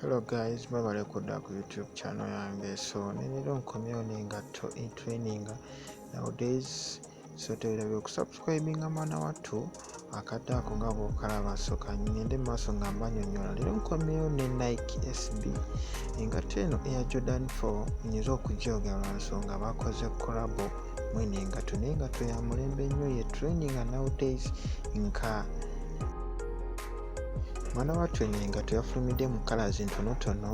hello guys mwebale kudda ku youtube channel yange so nenero nkomyewo nengatto intraininga nowadays so tewerabe okusubscribinga mwana wattu akadde ako nga bwokalaba soka ngende maaso nga mbanyonyola leero nkomyeyo ne nike sb engatta eno eya jordan 4 nyinza okujooga lwansonga bakoze korabo mwene engato naye engato ya mulembe nnyo ye training nowdays nka mwana wattu eno engato yafulumidde mu kalazi ntonotono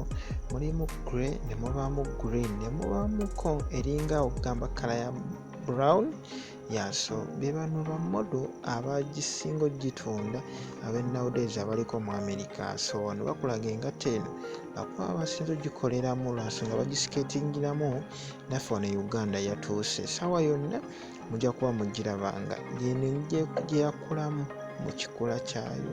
mulimu gray ne mubaamu green ne mubaamuko eringa okugamba kala ya brown yaso bebano bamodo abagisinga ogitunda abenawdays abaliko mu america so wano bakulaga engatta eno bakuba abasinza ogikoleramu lwansonga bagisiketingiramu naffe wano e uganda yatuuse sawa yonna mujja kuba mugirabanga yeno gyeyakulamu mu kikula kyayo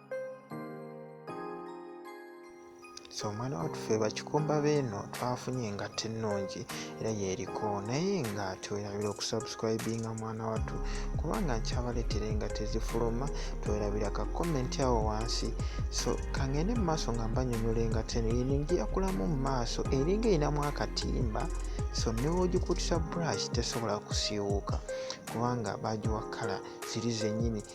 so omwana watufe bakikumba beeno twafunye nga tenungi era yeriko naye nga twerabira okusubscribinga mwana watu kubanga nkyabaletere nga tezifuluma twerabira ka comment awo wansi so kangende mu maaso nga mbanyonyole nga teno yino ngiyakulamu mu maaso eringa erinamu akatimba so newogikutisa brush tesobola kusiiwuuka kubanga bagiwa kala ziri zenyini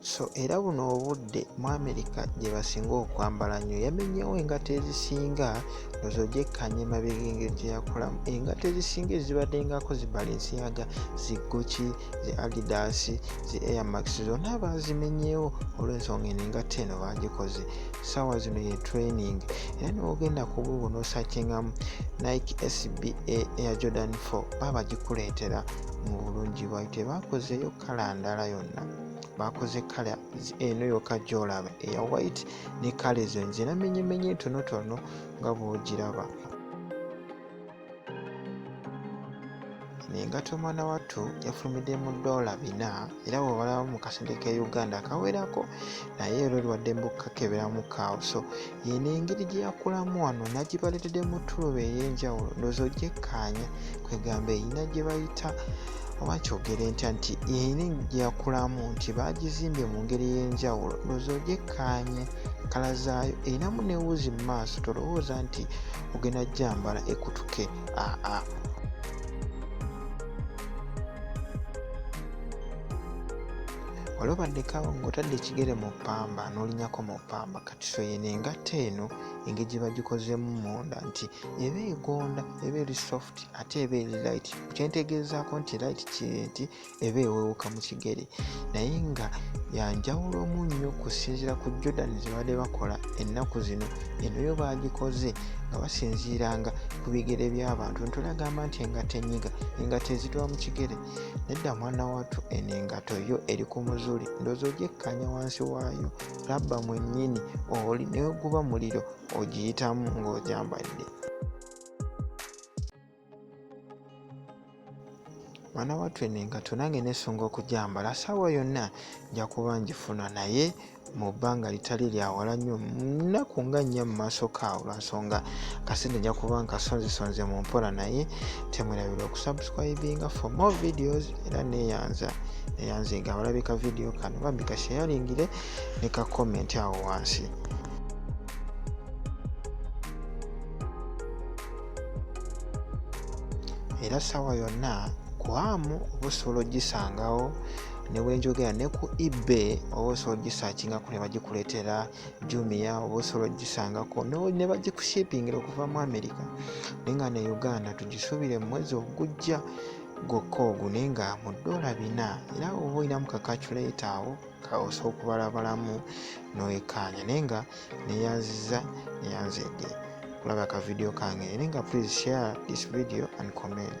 so era buno obudde mu amerika gye basinga okwambala nnyo yamenyewo engato ezisinga ezo gyekkanya emabega engeri gye yakolamu engato ezisinga ezibaddengako zi balensiyaga zi guki zi adidas zi airmax zonna baazimenyewo olw'ensonga eno engato eno baagikoze saawa zino ye training era newogenda ku buubu n'osakingamu nike sba air jordan 4 baabagikuleetera mu bulungi bwayo tebakozeyo kala ndala yonna bakoze kala eno yoka gyolaba eya white ne kala ezo nzina menyemenye ntonotono nga bwogiraba engato omwana wattu yafulumidde mu doola bina era bwebalabamu mu kasente ka uganda kawerako naye era oliwadde mbukakebera mu kaawo so eno engeri gye yakulamu wano nagibaleredde mu tuloba ey'enjawulo ndoozi ogyekkaanya kwegamba erina gye bayita oba kyogere ntya nti eri gye yakulamu nti baagizimbye mu ngeri ey'enjawulo ndoozi ogyekkaanye kala zaayo erinamu newuuzi mu maaso tolowooza nti ogenda gyambala ekutuke aa wali obaddekawo ng'otadde ekigere mu ppamba n'olinyako mu ppamba so eno engatta eno engeri gye bagikozemu munda nti eba egonda eba eri soft ate eba eri light kyentegeezaako nti light kiri nti eba ewewuka mu kigere naye nga yanjawulo mu nnyo kusinziira ku jordan zebadde bakola ennaku zino eno yo bagikoze nga basinziiranga ku bigere by'abantu ntulagamba nti engato enyiga engato ezitwa mu kigere nedda mwana watu eno engato yo eri ku muzuli ndoozi ogyekkanya wansi waayo labba mwennyini oli neguba muliro ogiyitamu ng'ogyambadde mwana wattu eno engatto nange nesunga okugyambala saawa yonna nja kuba ngifuna naye mu bbanga litali lyawala nnyo nnaku nga nnya mu maaso kaawo lwansonga kasente nja kuba nkasonzesonze mu mpola naye temwerabira okusubscribinga for more videos era neyanza neyanze nga abalabika vidiyo kano bambi kasheyalingire ne ka comment awo wansi era sawa yonna kwamu oba osobola ogisangawo newenjogera ne ku ebay oba osobola ogisakingako ne bagikuleetera jumia oba osobola ogisangako ne bagikushipingira okuva mu america naye nga ne uganda tugisubire mu mwezi ogujja gwokka ogune nga mu ddoola bina era oba olinamu ka kaculeeta awo kaosa okubalabalamu noyekaanya naye nga neyanziza neyanzedde kulaba ka vidiyo kange naye nga please share this video and comment